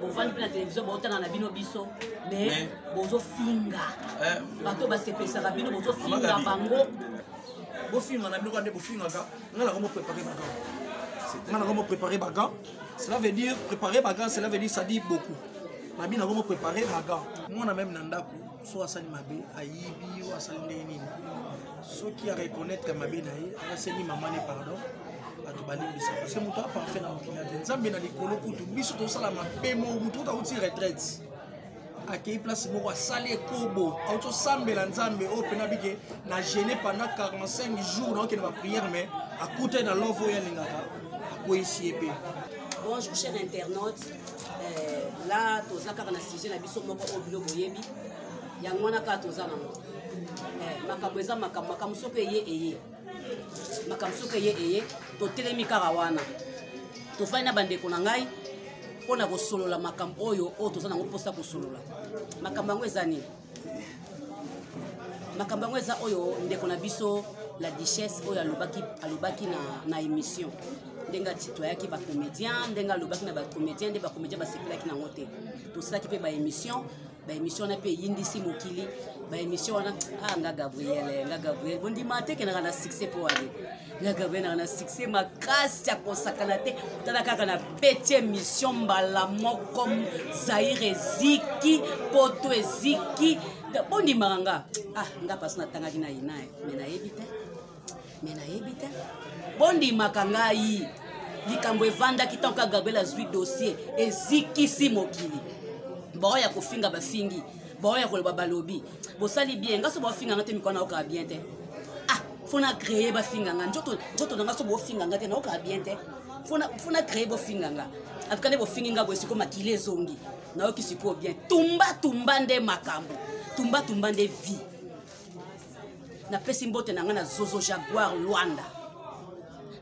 bovandi mpe na televizio baotanga na bino biso mais bozofinga eh. bato basepesaka bino bozofinga bango bofinga na bino kaka nde bofingaka ngai nako moprépare bagan ngai nako moprépare bagan cela veut dire préparer bagan cela veut dire ça dit beaucoup na bino nako moprépare bagan mwana meme na ndako so asali mabe ayibi yo asali ndenge nini soki areconnaitre mabe na ye asengi mama ne pardon bato balimbisa parce que moto aparfait na mokili ate nzambe na likolo kutu biso tosala mabe moko moto oyo auti retraite akei place moko asali ekobo auti osambela nzambe oyo mpena bike na gene pendant 45 jours naokende baprière mais akutani na love oyo alingaka akweyisi ye mpe Bonjour chers internautes, eh, la toza kaka na sujet na biso moko oyo bino boyebi yango wana kaka toza nango eh, makambo eza makambo makambo soki eye eye makambo soki eye eye totelemi kaka wana tofandi na bandeko na ngai mpo na kosolola makambo oyo oyo toza nango mposa kosolola makambo yango eza nini makambo yango eza oyo ndeko na biso la duchesse oyo alobaki, alobaki na, na émission ndenge atitoyaki bacomédien ndenge alobaki na bacomédien nde bacomédien basepelaki nango te tosalaki mpe baémission baémission wana mpe eyindisi mokili baémission wana ah nga gabriel eh, nga gabriel bondima te kendaka na succès mpo wane nga gabriel naka na succès makasi ya kosakana te tala kaka na peti émission mbala moko zaire eziki poto eziki bondimaka nga ah nga mpasi natangaki na yina me nayebi te me nayebi te bondimaka ngai likambo evandaki ntango kaka gabriel azwi dossier ezikisi mokili baoyo ya kofinga bafingi baoyo ya koloba balobi bosali bien nga so baofinga nga te mikolo nayokaa bien te ah fo na créer bafinga nga nzoto na nga so bofinga nga te nayokaa bien te fo na créer bofinga nga atika nde bofingi nga boye sikoyo makili ezongi nayoki sikoyo bien tumba tumba nde makambo tumba tumba nde vie napesi mbote na ngai na zozo jaguar lwanda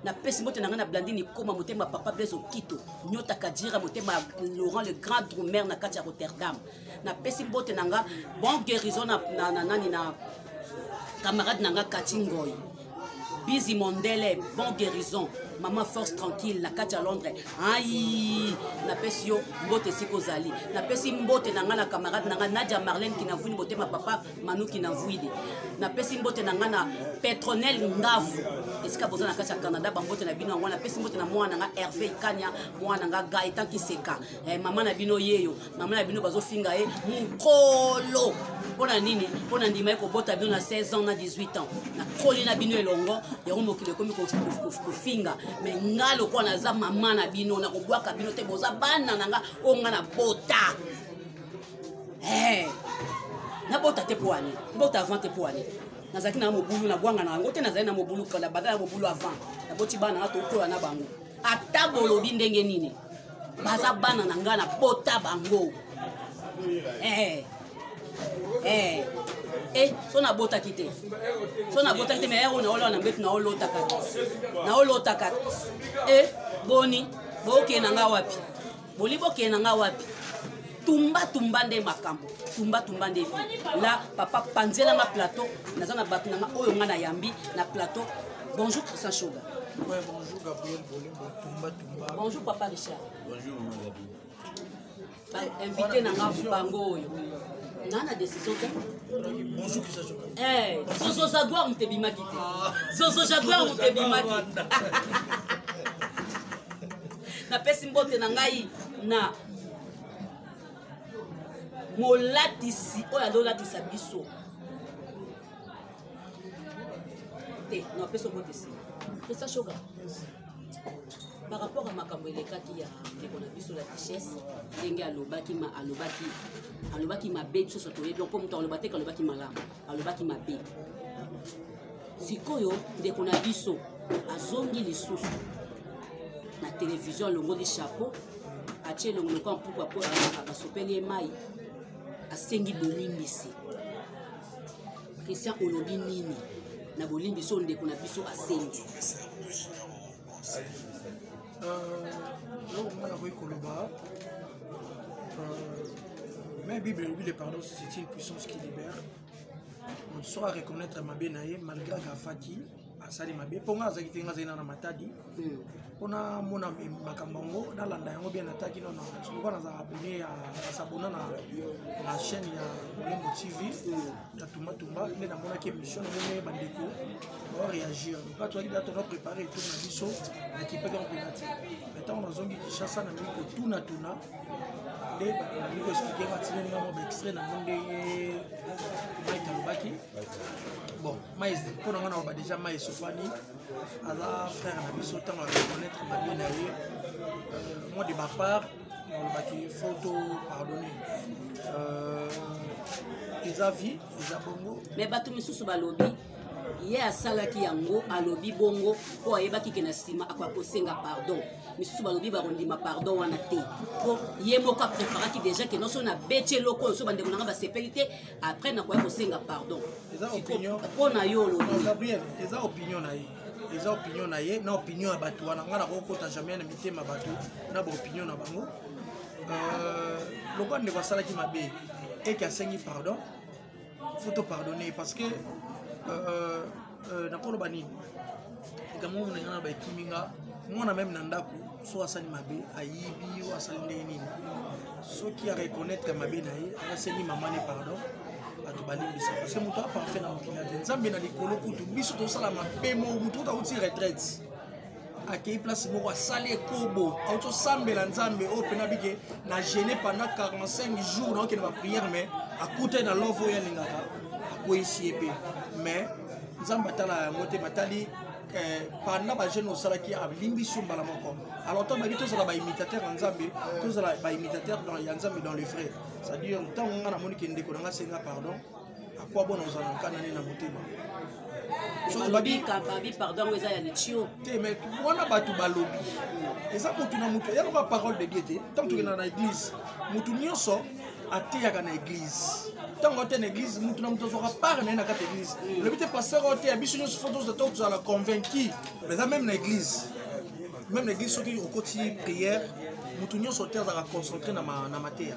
napesi mbote na ngai na blandini koma motema papa blaise okito nyota kajira motema laurent le grand drumer na kati ya rotterdam napesi mbote na nga bon guérison na, na, na nani na camarade na nga kati ngoi bizi mondele bon guérison mama force tranquille na kati ya londres ai napesi yo mbote esika ozali napesi mbote na ngai na camarade na ngai nadia marlene kinavuini botema papa manu kinavuidi napesi mbote na ngai na petronel ngavu esika boza na kati ya canada bambote na bino yango napesi mbote na mwana na ngai herve ikania mwana na ngai gaetan kiseka eh, mama na bino yeyo mama na bino bazofinga ye mokolo mpo na nini mpo na ndima ye kobota bino na 16 ans na 18 ans nakoli na bino elongo yango mokili ekomi kofinga me nga lokola naza mama na bino nakobwaka bino te boza bana na nga oyo nga na bota eh, nabota te mpo ane mbota avant te mpo ane nazalaki na mobulu nabwanga na yango te nazali na mobulu kala bada na mobulu avant naboti bana nga tokola na bango ata bolobi ndenge nini baza bana na ngai na bota bango eh. Eh. Eh, so nabotaki te so nabotaki te mais ero naoloa na mbetu naolotaka naolotaka e eh, boni bokee na ngai wapi boli bokee na ngai wapi tumba tumba nde makambo tumba tumba nde fi la papa panzela nga plateau naza na bato na nga oyo nga nayambi na plateau bonjour christian shoga ouais, bonjour gabriel bolingo tumba bonjour papa richard bonjour maman gabi ba invité na nga bango oyo naa na décision te bonjour kisa joka eh zozo jaguar moto ebimaki te ah. zozo jaguar moto ebimaki napesi mbote na ngai na molatisi oyo azolatisa biso te napesi mbote nsima pesa shoga par rapport ya makambo elekaki ya ndeko na biso la duchesse ndenge alobaki ma alobaki alobaki mabe biso nyonso toyebi yango mpo moto aloba te kalobaki malamu alobaki mabe sikoyo ndeko na biso azongi lisusu na televizio alongoli chapeau atie elongo lokola mpuku apo basopeli ye mai asengi bolimbisi Christian olobi nini na bolimbi so ndeko na biso asengi eloko moko nakoki koloba mais bible elobi le pardon c'est une puissance qui libère moto soko areconnaitre mabe na ye malgré akafaki asali mabe mpo ngai azalaki te ngai azali na na matadi hmm. mpo namona makambo yango nalanda yango bien nataki nono lokola nazala abone ya sabona na na chaîne ya molembo tv hmm. ya tumbatumba nde namonaki émission namoni bandeko baoreagir lokola tozalaki da tona prépare etour na biso nakipaki yango mpena te mai ntango nazongi kinshasa na miki kotunatuna nde bakoexplike nga tinelinga mwa baextrait na mo nde mike alobaki bon mais mpo na nga nakoba déjà mai sofani aza frère na biso ntango areconnaitre mabe na ye euh, moi de ma part nalobaki faut to pardonner euh, eza vie eza bongo mais bato misusu balobi ye asalaki yango alobi bongo mpo ayebaki ke na nsima akoya kosenga pardon misusu balobi bakondima pardon wana te mpo ye moko apreparaki deja ke noso na beti eloko oyo so bandeko na ngai basepeli te après nakoya kosenga pardon mpo na yo olobigabriel eza opinion na ye eza opinion na ye na opinion ya bato wana ngai nakokota jamais na mitema bato na baopinion na bango euh, lokola ndeko asalaki mabe eke asengi pardon faut topardonne parce que euh, euh euh, nakoloba nini likambo oyo nalinga na baekimi nga mwana meme na ndako so asali mabe ayibi oyo asali ndenge nini soki areconnaitre mabe na ye asengi mama ne pardon bato balimbisa parce que moto aparfait na mokili ya te nzambe na likolo kutu biso tosala mabe mo moto oyo tauti retraite akei place moko asali ekobo auti osambela nzambe oyo mpena bike na gene pendant 45 jours na okende baprière mais akutani na love oyo alingaka akweyisi ye mpe mais nzambe atala yango te matali eh, panda bajeune osalaki alimbisi yo mbala moko alors ntango bayebi tozala baimitateur ya nzambe tozala baimitateur ya nzambe dans le vrai c'est-à-dire ntango ngai namoni ke ndeko na ngai asenga pardon akwa bona ozala nkana ne na motema babi pardon yango eza ya litio te mais wana bato balobi eza motu na motu ya lokola parole de dieu te ntango tokenda na église motu nyonso ateyaka na église ntango ateya na église motu na motu azwaka part na ye na kati ya église olobi te pasteur oteya biso nyonso fo tozala convaincu eza même na église même na église soki okoti prière motu nyonso te azalaka concentré na mateya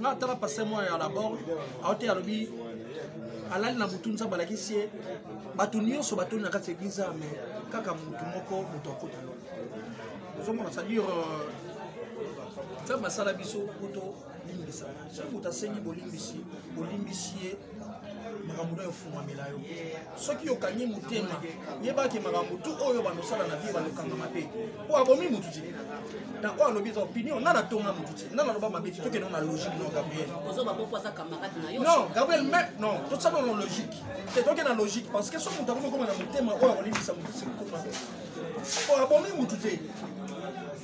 nga tala pase mwa ya labor aote alobi alali na butu nzambe alakisi ye bato nyonso batoni na kati ya eglize ya me kaka motu moko moto akota yo ozomona c'est-à-dire euh, nzambe asala biso kuto limbisana soki moto asengi bolimbisi bolimbisi ye makambo na yo efungwamela yo soki okangi motema yebaki makambo tu oyo bandosala na vie bandokangama te mpo abomi motu te na oyo alobi eza opinion nga natonga motu te nga naloba mabe te tokende na logique non gabriel non gabriel me non tosala na logique te tokende na logique parce que soki moto akomi okoma na motema oyo akolimbisa motu te kokoma mpo abomi motu te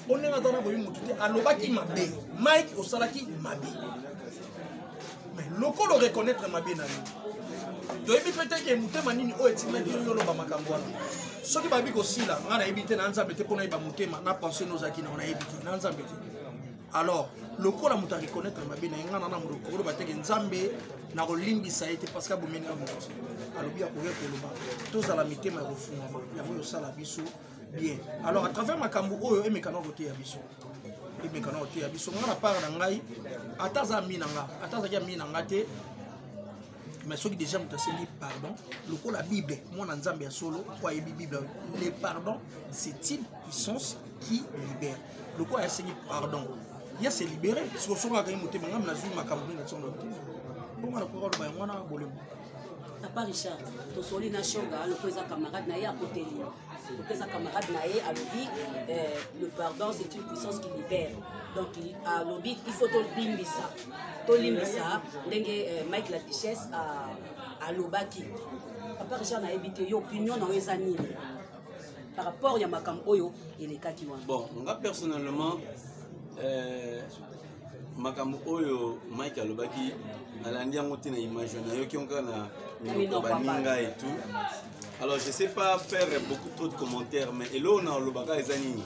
mpo ndenge aza na boyi motu te alobaki mabe mike osalaki mabe mais lokola oreconnaitre mabe na yo toyebi mpe te ke motema nini oyo etimaki yo oloba makambo wana soki bayebi kosila ngai nayebi te na nzambe te mpo nayeba motema na pensé nozalaki nao nayebi te na nzambe te alors lokola moto areconnaitre mabe na ye ngai nana moto koloba te ke nzambe nakolimbisa ye te parce que abomeli nga moto alobi akoya koloba tozala mitema ya kofungama yango yosala biso bien alors à travers makambo oyo emekana koteya biso emekana koteya biso nga na part na ngai ata aza ami na nga ata azalaki ami na nga te mais soki déjà moto asengi pardon lokola bible mwana nzambe ya solo po ayebi bible le pardon c'est une puissance qui libère lokola asengi pardon ya se libere sikosoki akangi motema ngambi nazwi makambo nini na ntongo na motema mpo nga nakoka oloba yango wana bolembo papa richard tosoli na shoga aloko eza camarade na ye akoteli loko eza camarade na ye alobi eh, le pardon c'est une puissance qui libère donc alobi il faut tolimbisa tolimbisa ndenge eh, mike la duchesse alobaki papa richard nayebi te yo opinion na yo eza nini par rapport ya makambo oyo elekaki wana bon nga personnellement euh, makambo oyo mike alobaki alandi yango te na image na yoki yango kaka na minoko baninga et tout alors je sais pas faire beaucoup trop de commentaires mais eloko na olobaka eza nini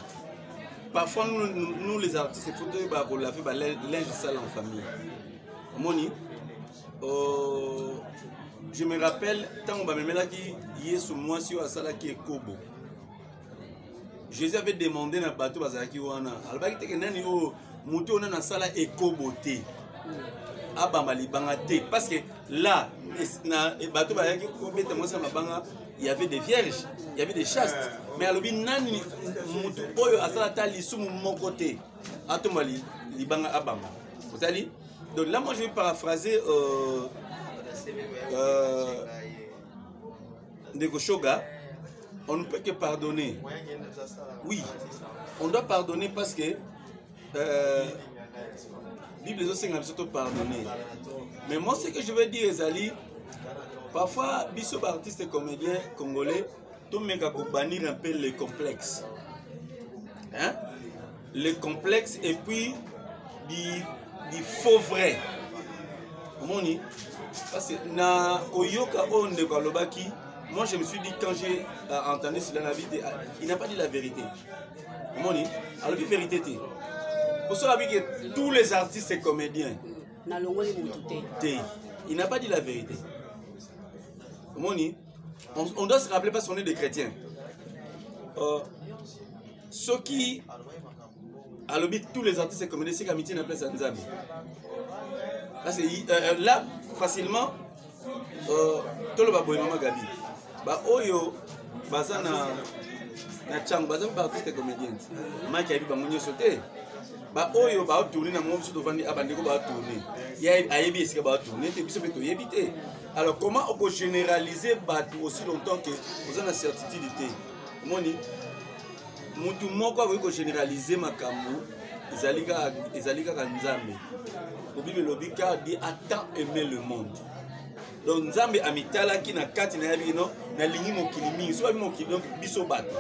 parfois nous, nous, nous les artistes il faut toyeba kolave balinge sale en famille omoni euh, je me rappelle ntango bamemelaki yesu mwasi oyo asalaki ekobo jésus avait demandé na bato bazalaki wana alobaki teke nani oyo moto oyo nani asala ekobo te abamba libanga te parce que là na bato bayaki kobeta mwasi ya mabanga il y avait des vierges il y avait des chastes mais alobi nani moto oyo asala ata lisumu moko te atomba libanga abamba otali donc là moi je vais paraphraser euh, euh, ndeko shoga on ne peut que pardonner oui on doit pardonner parce que euh, bible ezosenga biso topardonner mais moi ce que je veux dire ezali parfois biso baartiste comédien congolais tomeka kobanir un peu le complexe hein? le complexe et puis di, di faux vrai omoni parce que na koyoka oyo ndeko alobaki moi je me suis dit quand j'ai euh, entendu cela na vie ah, il n'a pas dit la vérité omoni alobi vérité te poso abi que tous les artistes et comédiens nalongoli motu te te il n'a pas dit la vérité omoni on, on doit se rappeler parce qu'on est des chrétiens euh, soki alobi tous les artistes communauté sika mitie na place ya nzambe parce que euh, euh, là facilement euh, toloba boye mama gabi baoyo baza na na cango baza mpe baartiste comédienne maki ayebi bango nyonso te baoyo baotourne na mongo biso tovandi a bandeko baotourne ayebi esika baotourne te biso mpe toyebi te alors comment okogénéralise bato aussi longtemps que oza na certitude te omoni mutu moko akoki kogeneralize makambo ezali kaka nzambe bobile elobi car di ata aime le monde donc nzambe amitalaki na kati na yabi no nalingi mokili mingi so babi mokili donc biso bato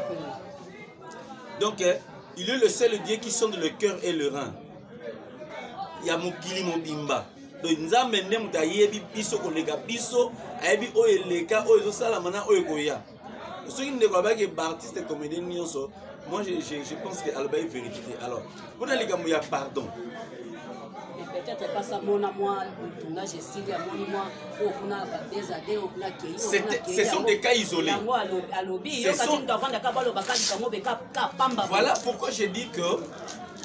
donc eh, il est le seul dieu qui sonde le cœur et le rein ya mokili mobimba donc nzambe nde moto ayebi biso koleka biso ayebi oyo eleka oyo ezosalama na oyo ekoya soki ndeko abaki baartiste comédien nyonso moi je, je, je pense que alobaki vérité te alors mpona likambo ya pardon peut-être pas ça mona moi tuna je suis ya moni moi au kuna bateza de au kuna kei ce sont des cas isolés yango alobi yo kati mtu avanda ka balo bakali kango be ka ka pamba voilà pourquoi je dis que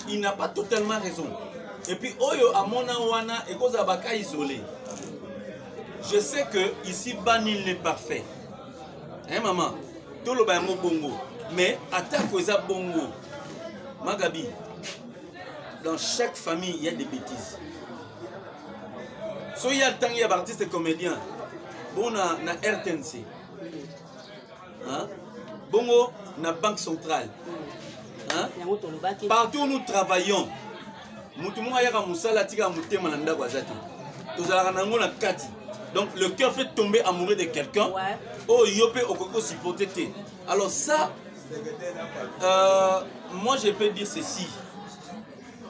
il n'a pas totalement raison et puis oyo amona wana ekozala ba cas isolés je sais que ici bas nul n'est parfait eh mama toloba yango bongo mais atako eza bongo magabi dans chaque famille il y a des bêtises soki ya ntango ya baartiste comédien bona na rtnc hein? bongo na banque centrale hein? partout nous travaillons motu moko ayaka mosala atikaka motema na ndako aza te tozalaka na yango na kati donc le cœur peut tomber amoureux de quelqu'un ouais. oyo yo mpe okoki kosupporte te alors ça euh, moi je peux dire ceci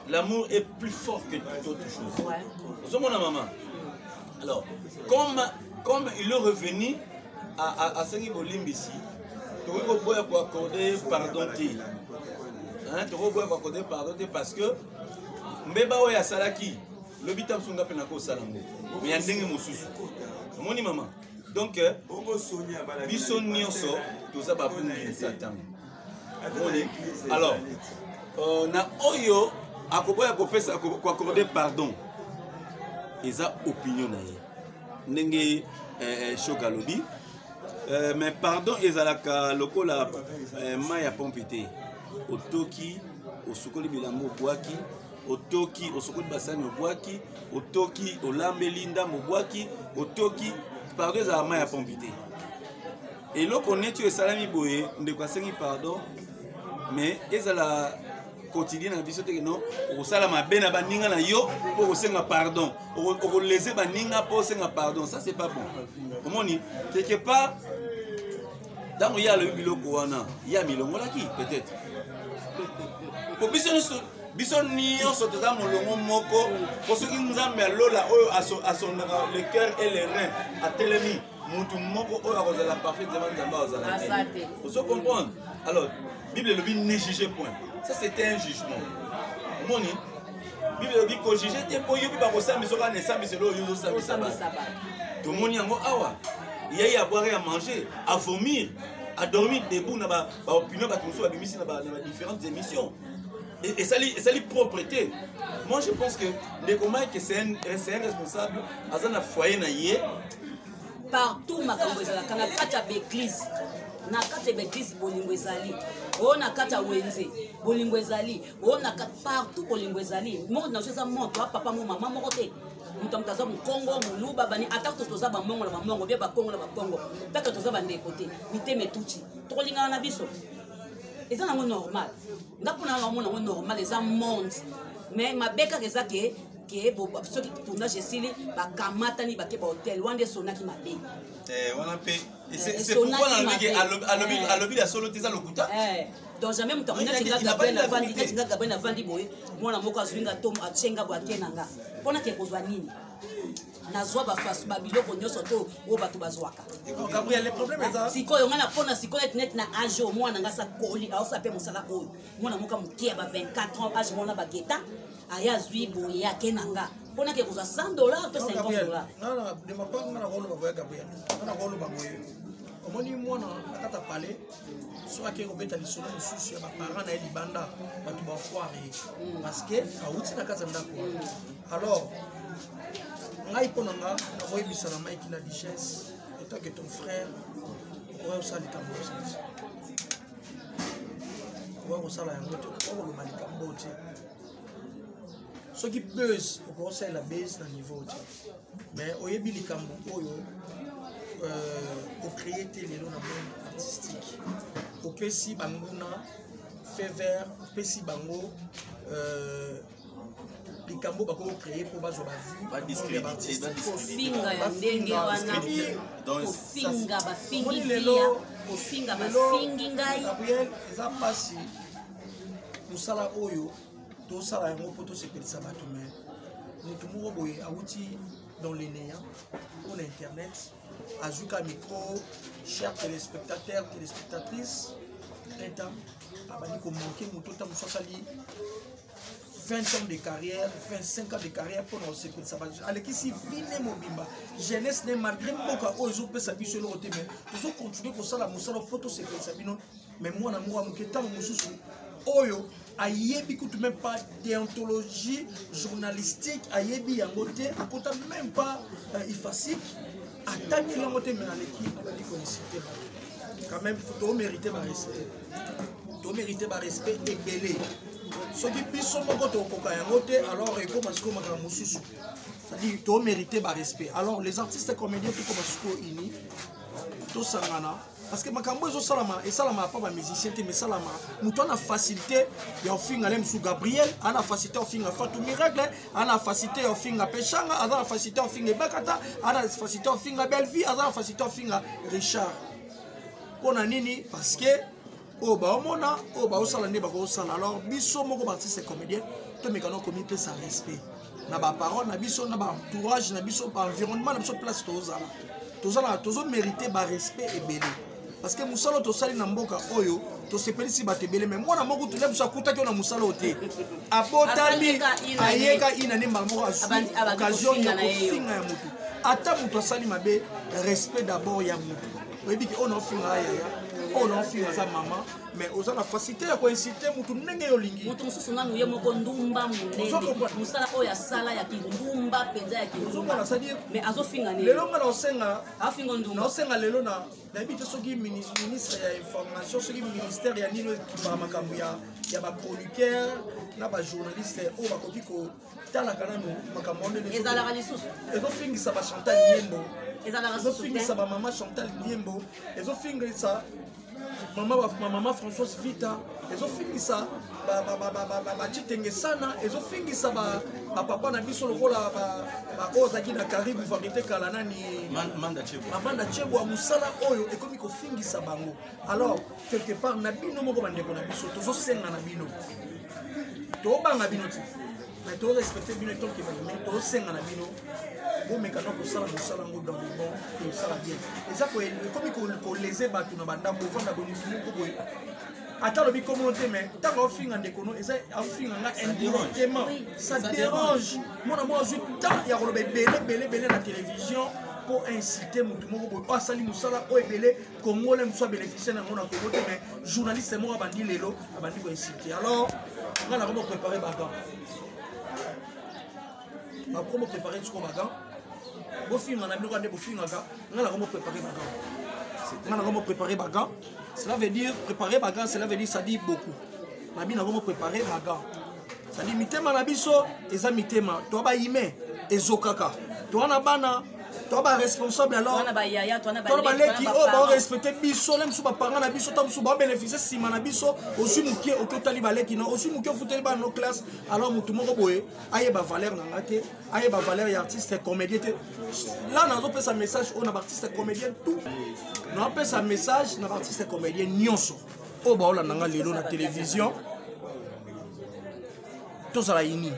l'amour est plus fort que toute autre chose ozomona ouais. mama alors comme comme il est revenu asengi bolimbisi tokoki koboya koaccorde pardon te tokoki koboya koaccorde pardon te parce que mbeba oyo asalaki lobi ta mosunga mpe nakosala yango me ya ndenge mosusu omoni mama donc biso nyonso toza babungi ya satan alors euh, na oyo akoboya kopesa koacorde pardon eza opinion na ye ndenge eh, eh, shok alobi eh, mais pardon ezalaka lokola mai ya pompe te otoki osukoli bilambo obwaki otoki osukoli basani obwaki otoki olambeli ndambo obwaki otoki pardon ezalaka mai ya pompe te eloko neti oyo esalami boye ndeko asengi pardon mais ezala quotidien na biso teke no okosala mabe na baninga na yo mpo okosenga pardon okolese baninga mpo osenga pardon ça c'est pas bon omoni quelque part ntango ye alobi biloko wana ye amilongolaki peut-être mpo biso nyonso biso nyonso toza molongo moko mpo soki nzambe ya lola oyo asondaka le cœur et le rein atelemi moto moko oyo akozala parfait zema nzambe azala te ozo comprendre alors bible elobi ne juge point ça c'était un jugement omoni bible elobi kojuge te mpo yo mpe bakosambisa okaa na esambiselo oyo ozosambisa bana tomoni yango awa yeye abwaka ya manger avomir adormir debout na baopinion bato mosusu babimisi na badifférentes émissions esali esali propre te moi je pense que ndeko mike c'est un, un responsable aza na foyer na ye partout makambo ezalaka na kati ya baeglise na kati ya baeglise bolingo ezali oyo na kati ya wenze bolingo ezali oyo na kati partout bolingo ezali monde na biso eza moto ya papa mo mama moko te moto moto aza mokongo moluba bani ata kutu toza bamongo na bamongo bie bakongo na bakongo mpeke toza bandeko te mitema etuti tokolingana na biso eza nango normal nga mpona nga omona yango normal eza monde mais mabe kaka eza ke ke soki tournage esili bakamatani bake bahotel wana nde sonaki mabe eh, wana mpe alobi ya solo te eza lokuta eh, donc jamais moto akonati nga gabriel avandi neti nga gabriel avandi boye mwana moko azwi nga to atye nga boye ake na nga mpo nake kozwa nini nazwa bafasu babiloko nyonso to oyo bato bazwaka sikoyo ngai napona sikoyo ete neti na age oyo mwana ngai sakoli aosala mpe mosala oyo mwana moka moke ya ba 24 ans age mwana bageta aye azwi boye yake na nga mpo nake kozwa 100 dollar to 50 dollar omoni mwana akata pale soki akei kobeta lisolo mosusu ya baparent na ye libanda bato bafoire ye mm. parce que awuti na kati ya ndako wana mm. alors ngai mpo na nga nakoyebisa na maiki na duchesse etant que ton frère okoya kosala likambo mosusu okoya kosala yango te okoya koloba likambo te soki buzz okokosalela base na niveau te mais oyebi likambo oyo euh, ocreye te lelo na monde artistique opesi banguna fait vert opesi bango euh, likambo bakoki kocreye mpo bazwa bavuekofinga ya ndenge wana kofinga bafingi lelo kofinga bafingi ngai eza mpasi mosala oyo tosala yango mpo tosepelisa bato me motu moko boye awuti dans le néant mpo na internet azwi ka micro cher téléspectateur téléspectatrice enta abandi komanke moto ntango mosusu asali 20 ans de carrière 25 ans de carrière mpo na kosepelisa bato alekisi vi ne mobimba jeunesse ne malgré mboka oyo ezopesa biso eloko te mai tozokontinue kosala mosala mpo tosepelisa bino mais mwana moko ya moke ntango mosusu oyo ayebi kutu même pas déontologie journalistique ayebi yango te akota même pas euh, ifasique atangi yango te mais aleki abandi koinsite bato quand même tomérite barespect tomérite barespect ebele soki biso moko tokoka yango te alors ekoma sikoyo makambo mosusu c'est-à-dire tomérite barespect alors les artistes comédien tokoma sikoyo ini tosangana parce que makambo ezosalama esalamaka mpo bamusicien te mais esalamaka moto ana facilité ya ofinga le mosusu gabriel ana facilité ofinga fatu miracle ana facilité ya ofinga peshanga aza na facilité ofinga ebakata ana facilité ofinga bellevie aza na facilité ofinga richard mpo na nini parce que oyo baomona oyo baosala nde bakosala alors biso moko baartiste comédien tomekana komipesa respect na baparole na biso na baentourage na biso baenvironnement na biso place tozala tozalaka tozomérite barespect ebele parce que mosala oyo tosali na mboka oyo tosepelisi bato ebele mai mwana moko tulia biso akutaki yo na mosala oyo te abotami ayeka inane mbala moko azwi occasion ya kofinga ya motu ata moto asali mabe respect d'abord ya motu oyebi ke oyo naofinga ya yaya oyo naofinga aza mama mais oza na facilité ya koinsite motu ndenge yo olingi motu mosusu nanu ye moko ndumba monene mosala oyo asala ya kindumba mpenza ya kindumbaomais azofinga nini lelo nga naosenga afinga ndumba naosenga lelo na nayebi te soki ministre ya information soki ministère ya nini ekipaka makambo ya baproducteur na bajournaliste oyo bakoki ko talaka nano makambo wana ndenge ezalaka lisusu ezofingisa ba chantal yembo ezalaka ezofingisa ba mama chantal yembo ezofingisa mama mama françoise vita ezofingisa bacitenge sana ezofingisa bapapa na biso lokola baoyo azalaki na karibu varité kala nani manda cebwa mosala oyo ekomi kofingisa bango alors quelque part na bino moko bandeko na biso tozosenga na bino tobanga bino ti mais torespecte bino etonke bandimi tosenga na bino bomekana kosala mosala yango dans le bon tosala bien eza ekomi kolese bato na bandako ofanda bolingi moko boye ata alobi komono te mais ntango aofinga ndeko no eza aofinga nga indirectement ça dérange mwana mwa azwi temps ya koloba ebele ebele ebele na télévision mpo incite motu moko boye oyo asali mosala oyo ebele congolais mosusu abénéficie na yango na congo te mais journaliste moko abandi lelo abandi koinsulte alors ngai nakomi prépare bagan nakomi prépare siko bagan bofinga na biloko nde bofingaka ngai nakomi prépare bagan ngai nakomi prépare bagan cela veut dire préparer bagan cela veut dire ça dit beaucoup nabi nakomi prépare bagan sadi mitema na biso eza mitema toa baime ezokaka toa na bana toa baresponsable alortona baleki oyo baorespecte biso na biso bapanga na biso ta mosusu baobeneficie nsima na biso ozwi moke oke otali baleki na ozwi moke ofuteli bana no classe alors motu moko boye ayeba valeur na nga te ayeba valeur ya artiste comédien te la nazopesa message oyo na baartiste comédien tout naopesa message na baartiste comédien nyonso oyo baolanda nga lelo na televizio tozala ini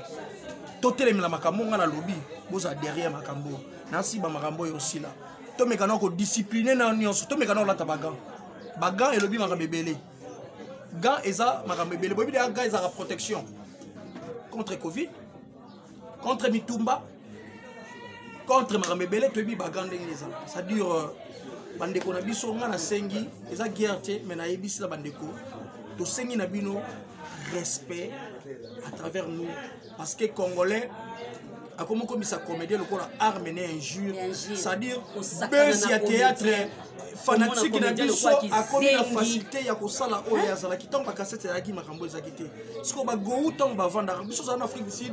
totelemela makambo nga nalobi bozala derrière makambo nasiba makambo oyo osila tomeka na kodiscipline na nyonso tomeka na kolata bagan bagan elobi makambo ebele gan eza makambo ebele boyebi deya gan ezalaka protection contre covid contre mitumba contre makambo ebele toyebi bagan ndenge eza c'est-à-dire euh, bandeko na biso ngai nasengi eza guerre te mais nayebisi na bandeko tosengi na bino respect à travers nous parce que congolais akomi okomisa comédien lokola arme ne injure c'est-à-dire besi ya théâtre fanatike na biso akomi na facilité ya kosala oyo azalaki ntango bakasete ezalaki makambo ezalaki te sikoyo bagou ntango bavandaka biso ozala na afrique du sud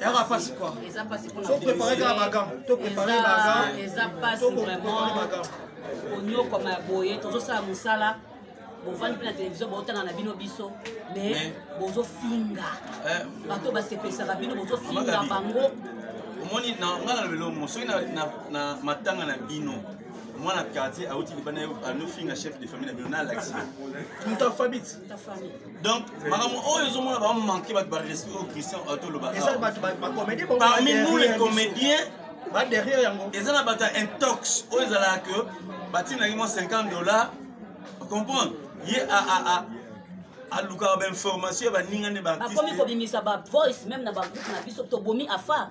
yaka pasi kuatoprepare kaka makambo toprepare konyokwama ya boye tozosala mosala bovandi mpe na televizio botanga na bino biso me bozofinga eh. bato basepesaka bino bozofinga bango omoni ngai na lobelo mo soki na matanga na bino mwana quartier auti libanda anofinga chef de famille na bino na alakisi moto afabiti donc makambo oyo ezomona bamanke bato barespect oyo christian atoloba parmi nous les comédiens eza na bato ya intox oyo ezalaka ke batinaki mwa 50 dollar ocomprendre ye alukaka bainformation ya baninga nde bakomi kobimisa bavoice meme na bagroupe na biso tobomi afa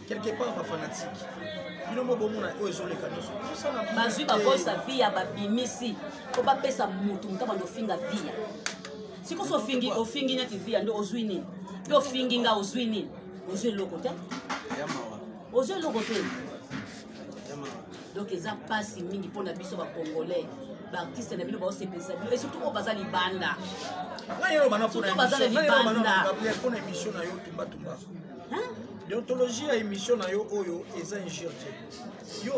quelque part ba fanatique bino mo bomona oyo ezoleka nyonso bazwi bakosa viya babimisi po bapesa motu moto abanda ofinga viya sikoso ofingi ofingi neti viya nde ozwi nini mpe ofingi nga ozwi nini ozwi eloko te ozwi eloko te donc eza mpasi mingi mpo na biso bacongolais baartiste na bino baosepelisa bino esurtout oyo baza libanda surtout baza na libanda deontologie ya émission na yo oyo eza injure te yo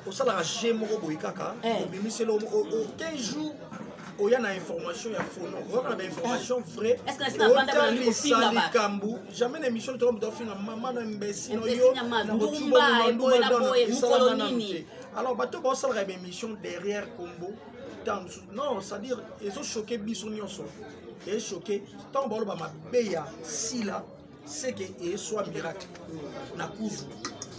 osalaka je moko boye kaka eh. obimiseli oke jour oya na information ya fono oyoka na bainformation eh. vrai otalisa likambo jamais na émission toko moto ofinga mama na mbesi no yo nakocubaesalaka nanu te alors bato baosalaka baémission derrière combo ntango mosusu non c'est-à-dire ezochoke biso nyonso ezochoke ntango baoloba mabe ya sila seke eswa miracle na kuzu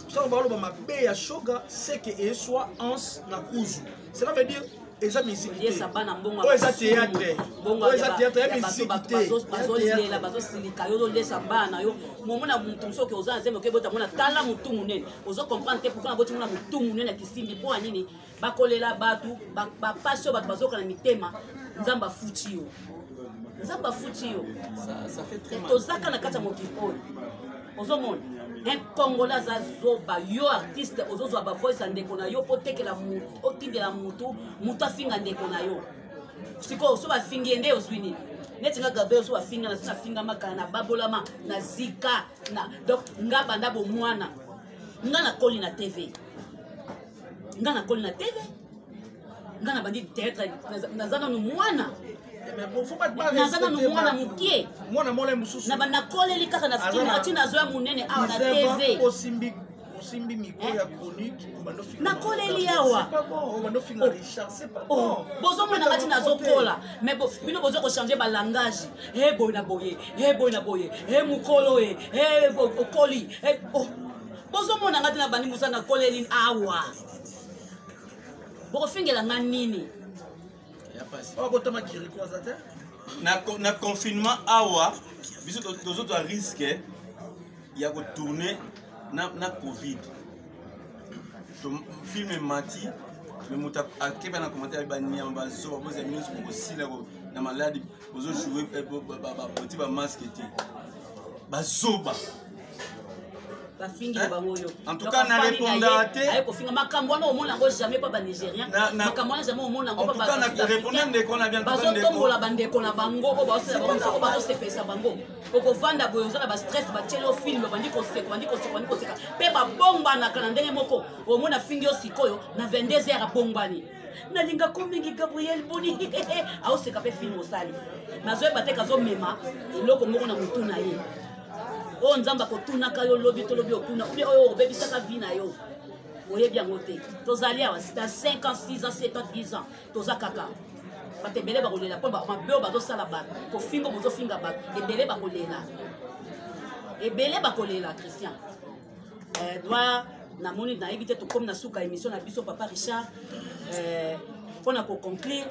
soko baloba mabe ya shoga seke eswa ans na kuzu cela veut dire eza misikiteoyo oh, eza théâtre oyo oh, eza théâtre ya misikitebazolela bazosilika yo ozolesa bana na yo momona motu mosusu oke oza na zemi oke bota mona tala motu monene ozo comprendre te pourkoi naboti mona motu monene ya kisimbi mpo ya nini bakolela bato bapasi oyo bato bazoka na mitema nzambe afuti yo nzambe afuti yo tozaka na kati ya mokili oyo ozomona un congolais aza zoba yo artiste ozozwa bavoice ya ndeko na yo mpo otekela mutu otindela mutu mutu afinga ndeko na yo sikoyo so bafingi ye nde ozwi nini neti nga gabriel so bafinga na so nafingama kala na babolama na zika na donc nga banda bomwana nga nakoli na tv nga nakoli na tv nga na bandi teatre naza nanu mwana naza nanu mwana mokie nakoleli kaka na film ati nazo ya monene awa na tv osimbi mikro ya chronique nakoleli awa bozomona ngati nazokola me bino boza kochange balangage e boye na boye e boye na boye e mokolo e okoli bozomona ngai te na bandi mosala na kolelin awa bokofingela ngai nini oh, botama kiriko aza te na confinement awa biso tozozwa riske ya kotourne na covid film emati me moto akeba na commentaire baniama bazoba bozala nyonso bokosila na maladi bozo joue eh, boti ba masque te bazoba bafingi eh? bango yo en tout cas na répondaka te aye kofinga makambo wana omona yango jamais mpa banigérien makambo wana jamais omona yango bazotombola bandeko na bango oyo baosala bango soko bazosepelisa bango okovanda boye oza na bastress batyeli yo filme obandi koseka obandi koseka obandi koseka mpe babongbanaka na ndenge moko omona fingi yo sikoyo na 22 heure abongbani nalinga ko mingi gabriel boni aoseka mpe filme osali nazoyeba te kazomema eloko moko na motu na ye oyo oh, nzambe akotunaka yo lobi tolobi okuna obi oyo obebisaka vi na yo oyebi yango te tozali awa na 5 ans 6 ans 7 ans 10 ans toza kaka bato ebele bakolela mpo mabe oyo bazosala bato kofingo bozofinga bato ebele bakolela ebele bakolela christian edouard euh, namoni nayebi te tokomi na suka émission na biso papa richard euh, mpo na koconclure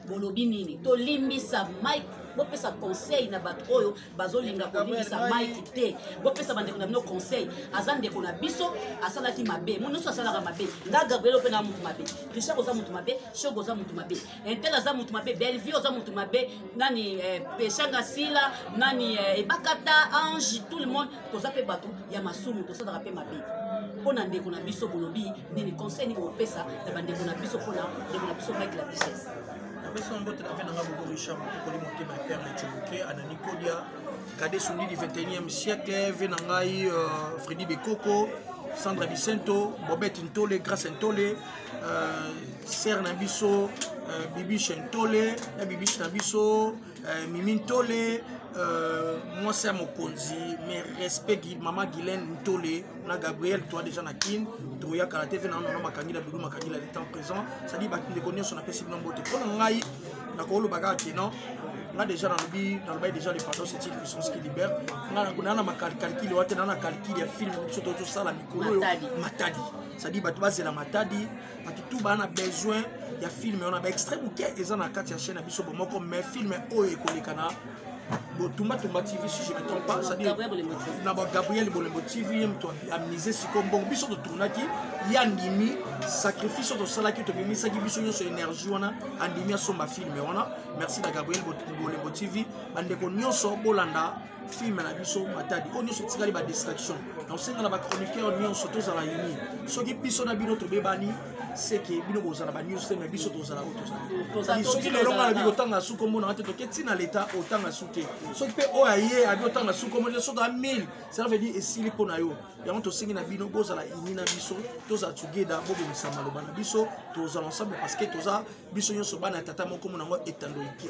bolobi nini tolimbisa mike bopesa conseil na bato oyo bazolinga kolimbisa mike te bopesa bandeko na bino conseil aza ndeko na biso asalaki mabe mo nyonso asalaka mabe nga gabriel ope na motu mabe richard oza motu mabe shog oza motu mabe intel aza motu mabe bellevue oza motu mabe nani eh, peshanga sila nani eh, ebakata ange tout le monde toza mpe bato ya masumu tosalaka mpe mabe mpo na ndeko na biso bolobi nini conseil nini kopesa na bandeko na biso mpo na ndeko na biso mike la richesse napesi na mbote na mpe nanga bobo richard mokokoli motema ya père lecomoke anani kodia kade sundi du 21e siècle ve na ngai euh, fredi bekoko sandra bicento bobete ntole grace ntole euh, sere na biso euh, bibiche ntole na bibiche na biso euh, mimi ntole euh, mwasi ya mokonzi mais respect mama guilaine ntole na gabriel toi déjà na kin toyaka na tv nano na makangila dudu makangila le temps présent cestadi bandeko nyonso napesi bino mbote mpo na ngai nakoloba kaka ke non nga déjà nalobi nalobaki déjà le pardon c'est une puissance qui libère nga naa na makalcalkile wate naa na calcule ya film biso to tosala mikolo oyo matadi cestadi bato bazela matadi batutu baa na besoin ya filme wana baextrait moke eza na kati ya chaîne ya biso bomoko mais filme oyo ekoleka na botumbatumba tv si je me trompe pas cestadire na bagabriel bolembo tv ye moto amise siko mbongo biso totournaki ye andimi sacrifice oyo tosalaki tobimisaki biso nyonso énergie wana andimi asomba filme wana merci na gabriel bolembo tv bandeko nyonso bolanda filme na biso matadi oyo nyonso etikali badistraction na osenga na bachroniqueur nyonso tozala uni soki biso na bino tobebani seke bino bozala banews te mai biso tozala oyo tozali soki lelo ngai nabi kotanga su kombo nanga te toke ntina leta otanga su te soki mpe oyo aye abi otanga su kombo te soki a 1000 cela veut dire esili mpo na yo yango tosengi na bino bozala ini na biso tozala togeda bobimisa maloba na biso tozala ensemble parce que toza biso nyonso bana ya tata moko mona yango etando ike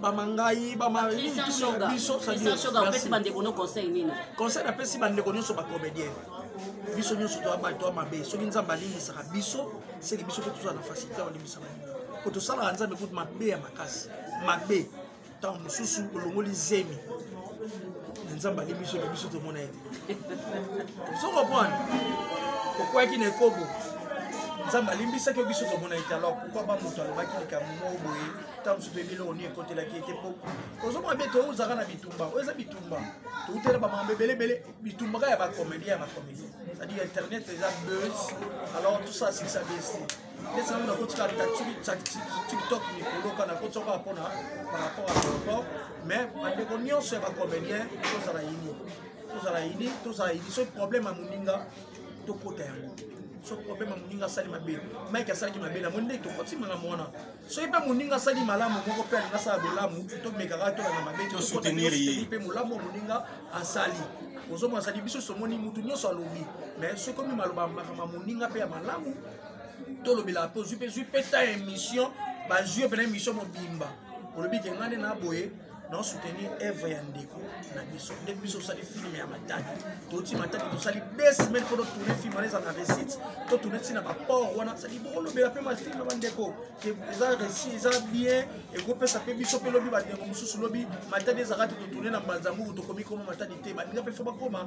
bama ngai bamabiso opesi bandeko no conseil nini conseil napesi bandeko nyonso bacomédien biso nyonso toya bato ya mabe soki nzambe alimbisaka biso seke biso mpe tozala na facilité ya kolimbisa baninga mpo tosalaka nzambe kutu mabe ya makasi mabe ntango mosusu olongoli zemi na nzambe alimbisi oyo biso tomona ye te sokoprendre okwaki na ekobo nzambe alimbisaki yo biso tomona ye te alors pourkoi bamoto alobaki likambo moko boye ta mosusu toyebi eloko nini ekotelaki ye te mpo ozomona be touzaka na bitumba oyo eza bitumba toutela bamambo ebele ebele bitumba kaka ya bacomédien ya bacomédien c'est-à-dire internet eza buzz alors tout ça sikisa besi ndeti nango nakotika tiktok mikolo kana kotisa kaka mpona par rapport à aéroport mais bandeko nyonso ya bacomédien tozala yini tozala yini tozala yini soki problème ya moninga tokota yango soki problème ya moninga asali mabe mike asalaki mabe na moni ndenge tokoti makambo wana soki mpe moninga asali malamu moko mpe alingi asala bolamu tomekaka tolanda mabe mpe molamu moninga asali ozomona asali biso somoni motu nyonso alobi mais soki omi maloba makama moninga mpe ya malamu tolobelaka mpe ozwi mpe zwi mpe ta émission bazwi yo mpena émission mobimba olobi ke ngai nde na boye na soutenir œuvre ya ndeko na biso nde biso osali film ya mataki toti mataki tosali deux semaines mpo totourne film wana eza na récite to tourne ntina baport wana sali bokolobela mpe mafilme ya bandeko eza réci eza bien ekopesa mpe biso mpe lobi bandeko mosusu lobi matadi ezalaka te totourne na mbanzanguku tokomi koma matadi te baninga mpe fo bakoma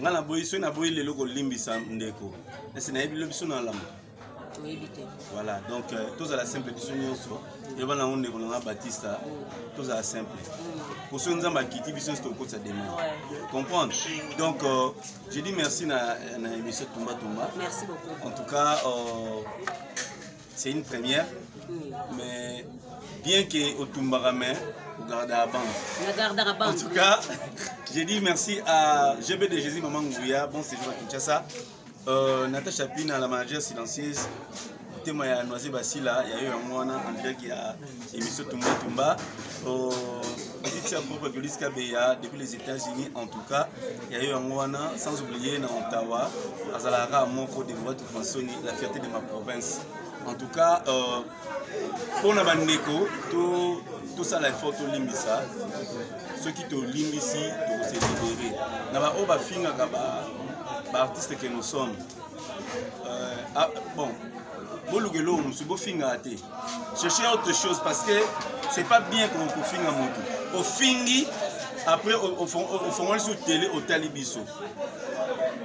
nga na boyi soki na boyi lelo kolimbisa ndeko ese nayebi lo biso na lamba voilà donc euh, tozala simple biso nyonso eloba nango ndeko nanga batista tozala simple mpo mm. soki nzambe akiti biso nyonso tokokotisa demande comprendre donc euh, je dis merci na, na émission tumba tumba en tout cas euh, c'est une première mais bien que otumbaka mais ogardaka bande nagardaka bande en tout cas je dis merci à gb de jésus maman nguya bon séjour à kinshasa euh, natacha pina la manager silencieuse motema ya noise basila ya yo yango wana en direct ya émission tumba tumba euh, petite sœur propre de Luis Kabeya depuis les États-Unis en tout cas ya yo yango wana sans oublier na Ottawa azalaka moko de voix tout masoni la fierté de ma province en tout cas euh, mpo na bandeko to tosala effort tolimbisa soki tolimbisi tokose libere na baoyo bafingaka baartiste ba que nous sommes euh, ah, bon boluka eloko mosusu bofingaka te chercher autre chose parce que c'est pas bien kofinga motu ofingi après ofongoli sur télé otali biso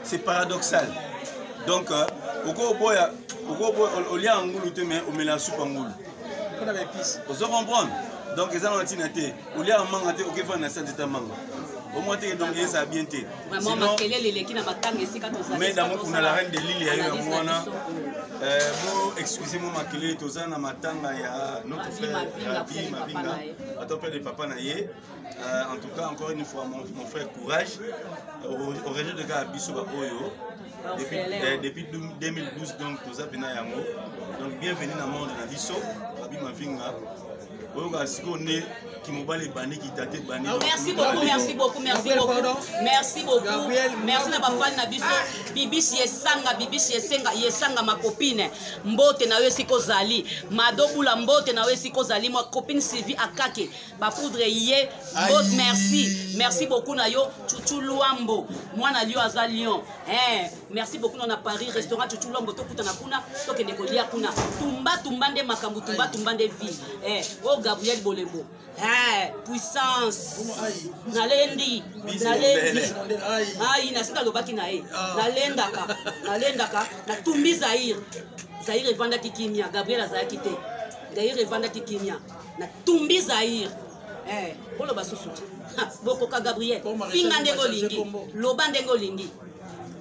c'est paradoxal donc euh, okoboya olia ya ngulu te mais omela supa ngulu ozo comprendre donc eza na ntina te oliaka manga te okefana na sanze ta manga omwa te donc ezala bien te mais damu kuna la reine de lile ya yo yango wana euh, bo excuse mo makelele toza na matanga ya notre frère abi mabinga ata mpe de papa na ye euh, en tout cas encore une fois mon, mon frère courage au région de kaka biso baoyo depuis, euh, depuis 2012 donc toza mpena yango donc bienvenue na monde na biso abi mavinga oyoka sikoyo nde kimobali ebandi kitate ebandi oh, merci beaucoup merci beaucoup merci beaucoup merci beaucoup merci na bafani na biso bibishi esanga bibishi esenga yesanga makopine mbote na yo esika ozali madobula mbote na yo esika ozali mwa copine sylvie akake bapoudre ye mbote merci merci beaucoup na yo chuchu luambo mwana lio aza lion eh, merci beaucoup nona paris restaurant chuchu lombo tokutana kuna tokende kolia kuna tumba tumba nde makambo tumba tumba nde vie eh, o oh, gabriel bolembo eh, puissance nalendi nalendi ai nasi nalobaki na ye ah. nalendaka nalendaka natumbi zaire zaire evandaki kimia gabriel azalaki te zaire evandaki kimia natumbi zaire eh, boloba susu bokoka gabriel finga ndenge olingi loba ndenge olingi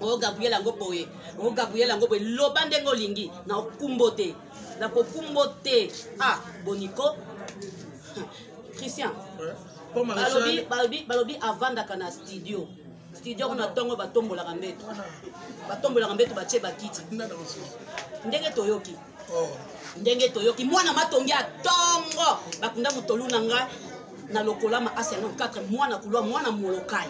o gabriel yango boye o gabriel yango boye loba ndenge olingi na okumbo te na kokumbo te ah boniko christian balobi balobi balobi avandaka na studio studio kuna ntongo batombolaka mbeto batombolaka mbeto batie bakiti ndenge toyoki oh. ndenge toyoki mwana matongi ya ntongo bakunda motolu na ngai na lokolama asi yango 4 mwana kulwa mwana molokai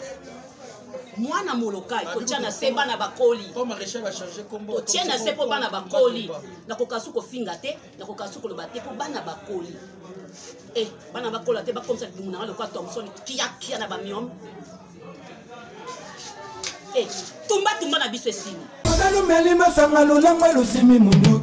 mwana molokai kotya na se bana bakoli kotya na se mpo bana bakoli nakoka su kofinga te nakoka su koloba te mpo bana bakoli e eh, bana bakola te bakomisa libumu nanga lokola thomson kiakia na bamiome e eh, tumbatumba na biso esili ozalumeli masanga lolangwa lusimi mundu